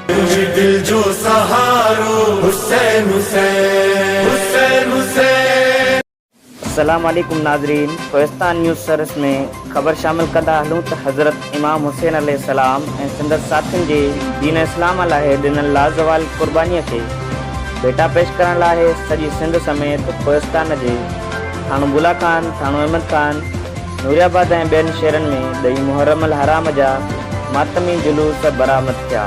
تنهنجي دل جو سهارو حسين حسين حسين حسين. السلام عليڪم ناظرين ڪوهستان نيوز سروس ۾ خبر شامل ڪندا هلون ته حضرت. امام حسين عليه السلام ۽ سندس ساٿين جي دين اسلام لاء ڏنل لازوال قربانيء کي ڀيٽا پيش ڪرڻ لاء سڄي سنڌ سميت ڪوهستان جي ٿاڻو بولا خان، ٿاڻو احمد خان، نوريآباد ۽ ٻين شهرن ۾ ڏهين محرم الحرام جا ماتمي جلوس برآمد ٿيا.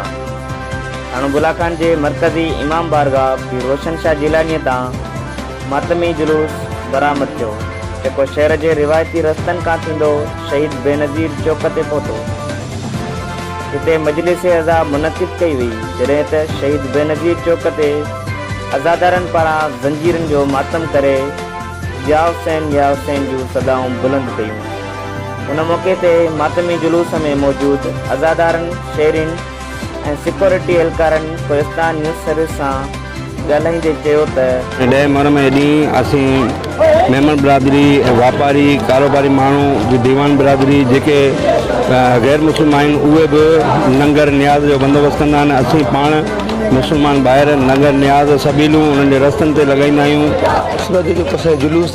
ٿاڻو بولا خان جي مرڪزي امام بارگاهه پير روشن شاهه جيلانيء تان، ماتمي جلوس برآمد ٿيو، جيڪو شهر جي روايتي رستن کان ٿيندو شهيد بينظير چوڪ تي پهتو. هتي مجلس عزا منعقد ڪئي وئي، جڏهن ته شهيد بينظير چوڪ تي عزادارن پاران زنجيرن جو ماتم ڪري يا حسين يا حسين جون صدائون بلند ڪيون. ان موقعي تي ماتمي جلوس ۾ موجود عزادارن، شهرين ۽ سيڪيورٽي اهلڪارن ڪوهستان نيوز سروس سان ڳالهائيندي چيو ته. ڏهه مهر ۾ ڏينهن اسين ميمڻ برادري ۽ واپاري ڪاروباري ماڻهو جي ديوان برادري جيڪي غير مسلم آهن اهي به ننگر نياز جو بندوبست ڪندا آهن اسين پاڻ مسلمان ڀائر ننگر نياز سبيلون انهن جي رستن تي لڳائيندا آهيون. سورج جو ڪسي جلوس.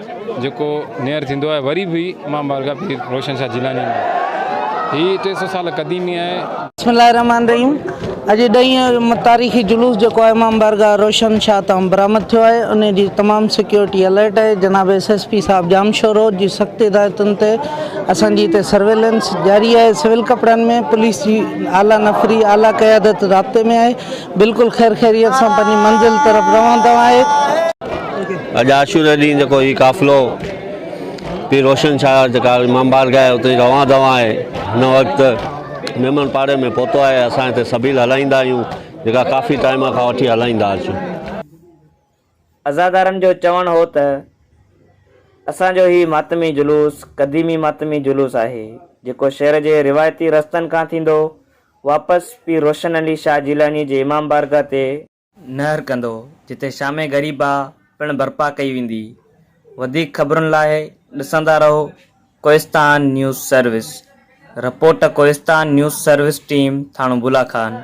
جيڪو نيئر ٿيندو آهي وري به امام بارگاهه پير روشن شاهه جيلاني ۾ هي ٽي سؤ سال قديمي آهي. بسم الله الرحمٰن الرحيم اڄ ڏهين تاريخي جلوس جيڪو آهي امام بارگاهه روشن شاهه تان برآمد ٿيو آهي انهي جي تمام سيڪيورٽي الرٽ آهي جناب ايس ايس پي صاحب ڄامشورو جي سخت هدايتن تي اسان جي هتي سرويلنس جاري آهي سول ڪپڙن ۾ پوليس جي اعليٰ نفري اعليٰ قيادت رابطي ۾ آهي بلڪل خير خيريت سان پنهنجي منزل طرف رواندو آهي. اڄ عاشوري ڏينهن جيڪو هي قافلو پير روشن شاهه جيڪا امام بارگاهه آهي اتي روان دوان آهي هن وقت ميمڻ پاڙي ۾ پهتو آهي اسان هتي سبيل هلائيندا آهيون جيڪا ڪافي ٽائيم کان وٺي هلائيندا اچون عزادارن جو چوڻ هو ته اسان جو هي ماتمي جلوس قديمي ماتمي جلوس آهي، جيڪو شهر جي روايتي رستن کان ٿيندو واپس پير روشن علي شاهه جيلاني جي امام بارگاهه تي، نهر ڪندو، جتي شام غريبه پڻ برپا ڪئي ويندي، وڌيڪ خبرن لاء ڏسندا رهو Kohistan news service, report Kohistan news service team Thano Bula Khan.